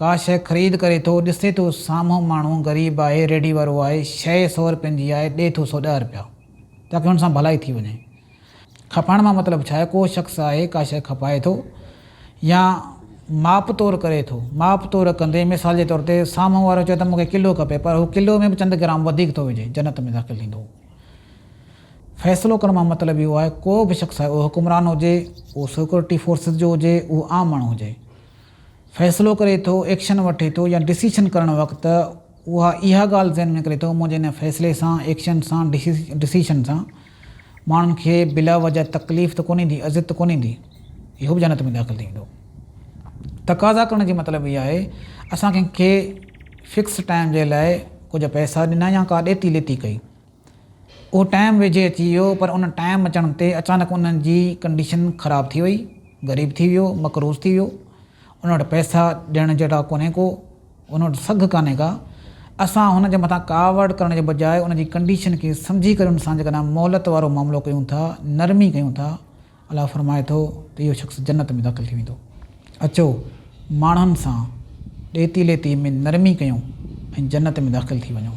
ڪا شيء خريد ڪري ٿو، ڏسي ٿو سامهون ماڻهو غريب آهي، ريڍي وارو آهي، شيء سؤ رپين جي آهي، ڏئي ٿو سؤ ڏهه رپيا، تاڪي هن سان ڀلائي ٿي وڃي. کپائڻ مان مطلب ڇا آهي؟ ڪو شخص آهي، ڪا شيء کپائي ٿو يا ماپ تور ڪري ٿو. ماپ تور ڪندي، مثال جي طور تي سامهون وارو چوي ته مون کي ڪلو کپي، پر هو ڪلو ۾ به چند گرام وڌيڪ ٿو وجهي، جنت ۾ داخل ٿيندو. فيصلو ڪرڻ مان مطلب اهو آهي، ڪو به شخص آهي، اهو حڪمران هجي، اهو سيڪيورٽي فورسز جو هجي، اهو عام ماڻهو هجي. فيصلو ڪري ٿو، ايڪشن وٺي ٿو يا ڊسيشن ڪرڻ وقت اها اها ڳالهه ذهن ۾ ڪري ٿو منهنجي هن فيصلي سان، ايڪشن سان، ڊسيشن سان ماڻهن کي بلا وجهه تڪليف ته ڪونهي ايندي، اذيت ته ڪونهي ايندي، اهو به جنت ۾ داخل ٿي ويندو. تقاضا ڪرڻ جي مطلب هي آهي اسان ڪنهن کي فڪس ٽائيم جي لاء ڪجهه پئسا ڏنا يا ڪا ڏيتي ليتي ڪئي. اهو ٽائيم ويجهي اچي ويو پر ان ٽائيم اچڻ تي اچانڪ انهن جي ڪنڊيشن خراب ٿي وئي، غريب ٿي ويو، مقروض ٿي ويو، ان وٽ پئسا ڏيڻ جهڙا ڪونهي ڪو، ان وٽ سگهه ڪانهي ڪا، اسان هن جي مٿان ڪاوڙ ڪرڻ جي بجاء ان جي ڪنڊيشن کي سمجهي ڪري ان سان جيڪڏهن مهلت وارو معاملو ڪيون ٿا، نرمي ڪيون ٿا، الله فرمائي ٿو ته اهو شخص جنت ۾ داخل ٿي ويندو. اچو ماڻهن سان ڏيتي ليتي ۾ نرمي ڪيون ۽ جنت ۾ داخل ٿي وڃون.